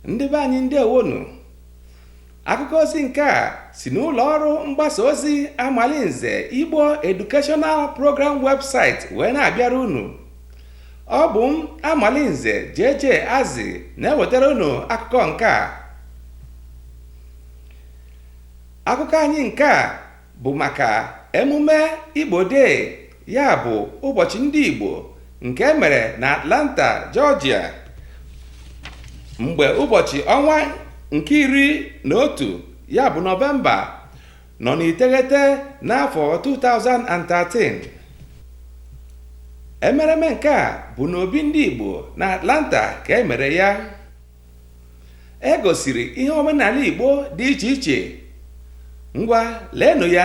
ndị be anyị ndeewonu akụkọ ozi nke a si n'ụlọ ọrụ mgbasa ozi amalinze igbo educational program website wee na-abịara unu ọ bụ m amalinze JJ Azị na-ewetara unu akụkọ nke a akụkọ anyị nke a bụ maka emume Igbo Day ya bụ ụbọchị ndị Igbo nke e mere na Atlanta Georgia mgbe ụbọchị ọnwa nke iri na otu ya bụ nọvemba nọ n'iteghete n'afọ 2013 emereme nke a bụ n'obi ndị Igbo na Atlanta ka e mere ya e gosiri ihe omenala Igbo dị iche iche ngwa leenụ ya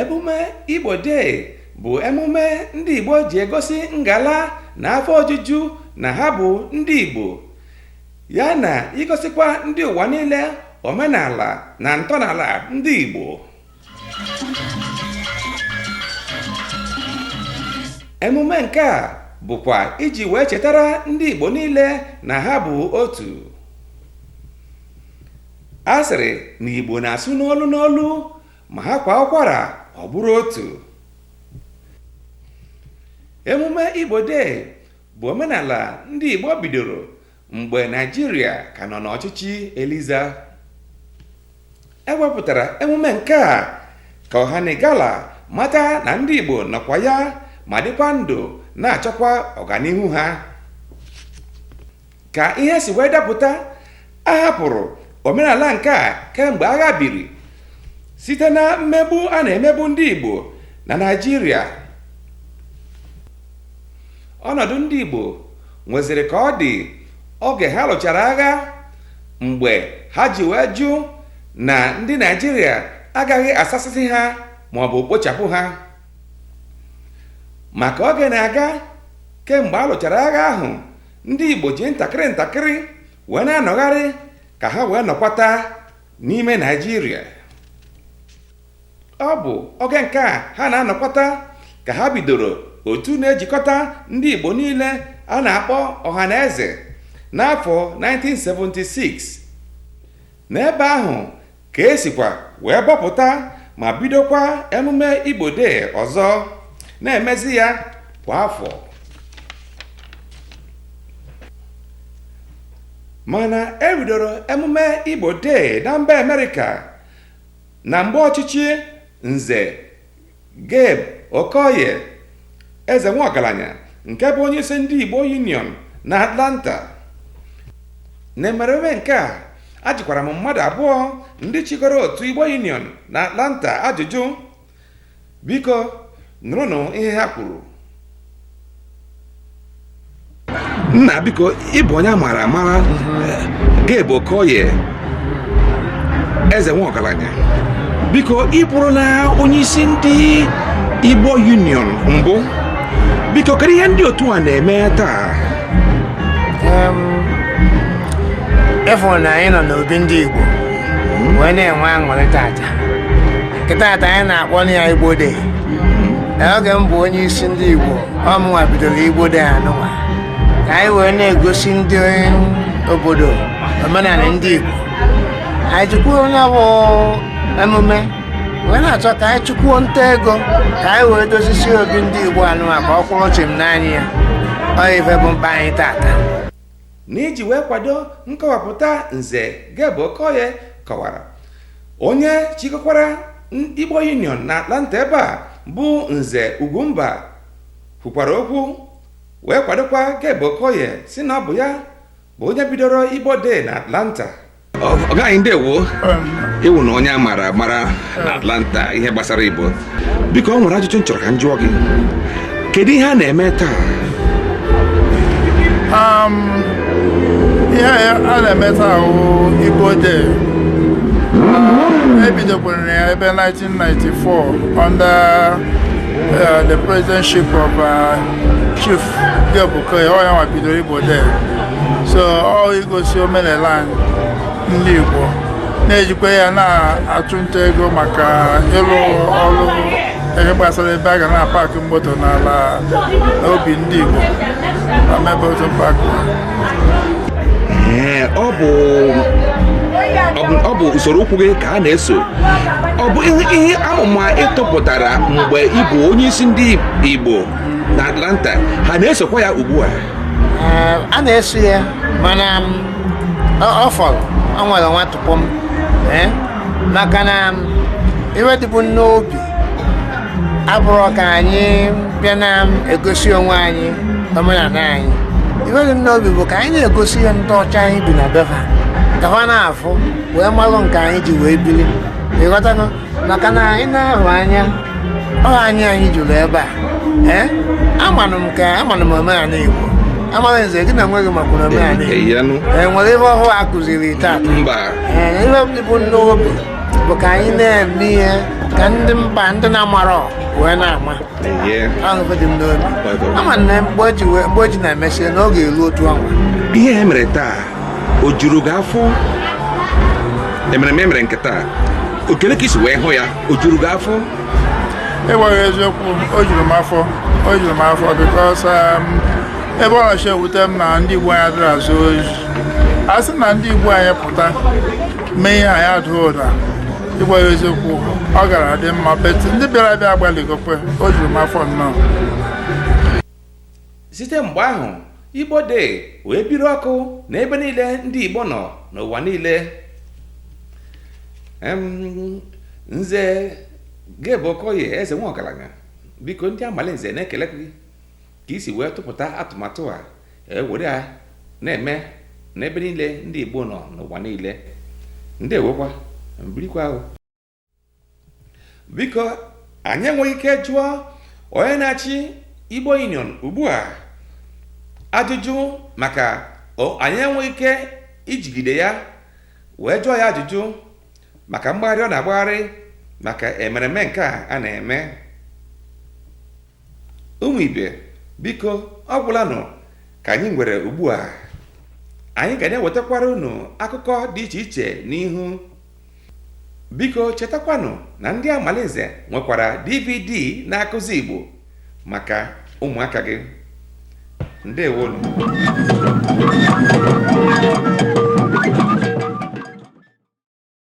emume igbo day bụ emume ndị igbo ji egosi ngala na afọ ojuju na ha bụ ndị igbo ya na igosikwa ndị ụwa niile omenala na ntọnala ndị igbo emume nke a bụkwa iji wee chetara ndị igbo niile na ha bụ otu a sịrị na igbo na-asụ n'olu n'olu ma ha kwa ụkwara ọ bụrụ otu emume igbo day bụ omenala ndị igbo bidoro mgbe naịjirịa ka nọ n'ọchịchị eliza e wepụtara emume nke a ka ọhanigala mata na ndị igbo nọkwa ya ma dịkwa ndụ na-achọkwa ọganihu ha ka ihe si wee dapụta a hapụrụ omenala nke a kemgbe agha biri site na mmegbu a na-emegbu ndị Igbo na Naịjirịa ọnọdụ ndị Igbo nweziri ka ọ dị oge ha lụchara agha mgbe ha ji wee jụ na ndị Naịjirịa agaghị asasịsị ha ma ọ bụ kpochapụ ha ma ka oge na-aga kemgbe a lụchara agha ahụ ndị igbo ji ntakịrị ntakịrị wee na-anọgharị ka ha wee nọkwata n'ime naịjirịa ọ bụ oge nke a ha na-anọkwata ka ha bidoro otu na-ejikọta ndị igbo niile a na-akpọ ọhaneze n'afọ 1976 n'ebe ahụ ka e sikwa wee bọpụta ma bidokwa emume Igbo Day ọzọ na-emezi ya kwa afọ mana e bidoro emume Igbo Day na mba Amerịka na mgbe ọchịchị Nze Gabe Okoye Eze Nwaọgaranya nke bụ onye isi ndị Igbo Union na Atlanta na emereme nke a ajụkwara m mmadụ abụọ ndị chịkọrọ otu Igbo Union na Atlanta ajụjụ biko nụrụnụ ihe ha kwuru nna biko ị bụ onye amara amara Gabe Okoye eze nwa ọgaranya biko ị bụrụla onye isi ndị Igbo Union mbụ biko kedu ihe ndị otu a na-eme taa ịfụ na anyị nọ n'obi ndị Igbo wee na-enwe aṅụrị tata nke tata anyị na-akpọ ya Igbo Day oge m bụ onye isi ndị igbo ọ mụnwa bidoro Igbo Day anụnwa ka anyị wee na-egosi ndị obodo omenala ndị igbo anyị jikwuo na ọ bụ emume wee na-achọ ka anyị chụkwuo nta ego ka anyị wee dozisi obi ndị igbo anụnwa ka ọ kwụrụ chịm n'anya ya ọ ife bụ mkpa anyị tata N'iji wee kwado nkọwapụta Nze Gabe Okoye kọwara onye chịkọkwara Igbo Union na Atlanta ebe a bụ Nze Ugwumba kwukwara okwu wee kwadokwa Gabe Okoye sị na ọ bụ ya bụ onye bidoro Igbo Day na Atlanta ọ gaghị ndewo ị wụ na onye a mara mara na Atlanta ihe gbasara Igbo biko ọ nwere ajụjụ m chọrọ ka m jụọ gị kedu ihe a na-eme taa um, ihe a na-eme taa Igbo Day e bidokwara ya ebe 1994 under uh, the presidentship of uh, Chief Gabe Okoye ọ yanwa bidoro Igbo Day so ọ igosi omenala anyị ndị Igbo na-ejikwa ya na-achụ nta ego maka ịlụ ọrụ ihe gbasara ebe a ga na-apakị moto n'ala obi ndị Igbo na mebe otu pakị ọ bụ ọ bụ usoro ụkwụ gị ka ha na-eso ọ bụ ihe amụma ị tụpụtara mgbe ị bụ onye isi ndị Igbo na Atlanta ha na-esokwa ya ugbu a a na-eso ya mana ọ fọrọ ọ nwere nwa tụpọ m maka na ihe dịbụ n'obi abụrọ ka anyị bịa na-egosi onwe anyị omenala anyị ihe dị n'obi bụ ka anyị na-egosi ya ndị ọcha anyị bi na be ha ka ha na-afụ wee malụ nke anyị ji wee biri ị ghọtago maka na ị na-ahụ anya ọ anyị anyị juru ebe a ee amanụ m ka amanụ m omenala Igbo amaghị nze gị na nweghị makwara omenala Igbo e nwere ihe ọhụụ a kụziri taa ee ihe bu n'obi bụ ka anyị na-eme ihe ka ndị mba ndị na-amarọ wee na-ama ahụ dị m n'obi ama na mgbe o ji na-emesịa n'oge elu otu ọnwa ihe e mere taa o juru gị afọ emereme nke taa okele ka i si wee hụ ya o juru gị afọ ịgwa gị eziokwu o juru m afọ o juru m afọ because um, ebe ọ na-achọ ewute m na ndị Igbo anyị adịrị azụ oyi a sị na ndị Igbo anyị pụta mee ihe anyị adaa ụda ịgwa gị eziokwu ọ gara adị mma but ndị bịara abịa agbalịgokwa o juru m afọ nnọọ site mgbe ahụ igbo day wee biri ọkụ n'ebe niile ndị igbo nọ n'ụwa niile nze gabe okoye eze nwa ọgaranya biko ndị amalinze na-ekele gị ka i si wee tụpụta atụmatụ a e were ya na-eme n'ebe niile ndị igbo nọ n'ụwa niile ndeewokwa birikwa o biko anyị enweghị ike jụọ onye na-achị igbo union ugbu a ajụjụ maka o- anyị enweghị ike ijigide ya wee jụọ ya ajụjụ maka mgbagharị ọ na-agbagharị maka emereme nke a a na-eme ụmụ ibe biko ọ gwụlanụ ka anyị nwere ugbu a anyị ga na-ewetakwara unu akụkọ dị iche iche n'ihu biko chetakwanụ na ndị amalinze nwekwara dvd na-akụzi igbo maka ụmụaka gị ndeewonụ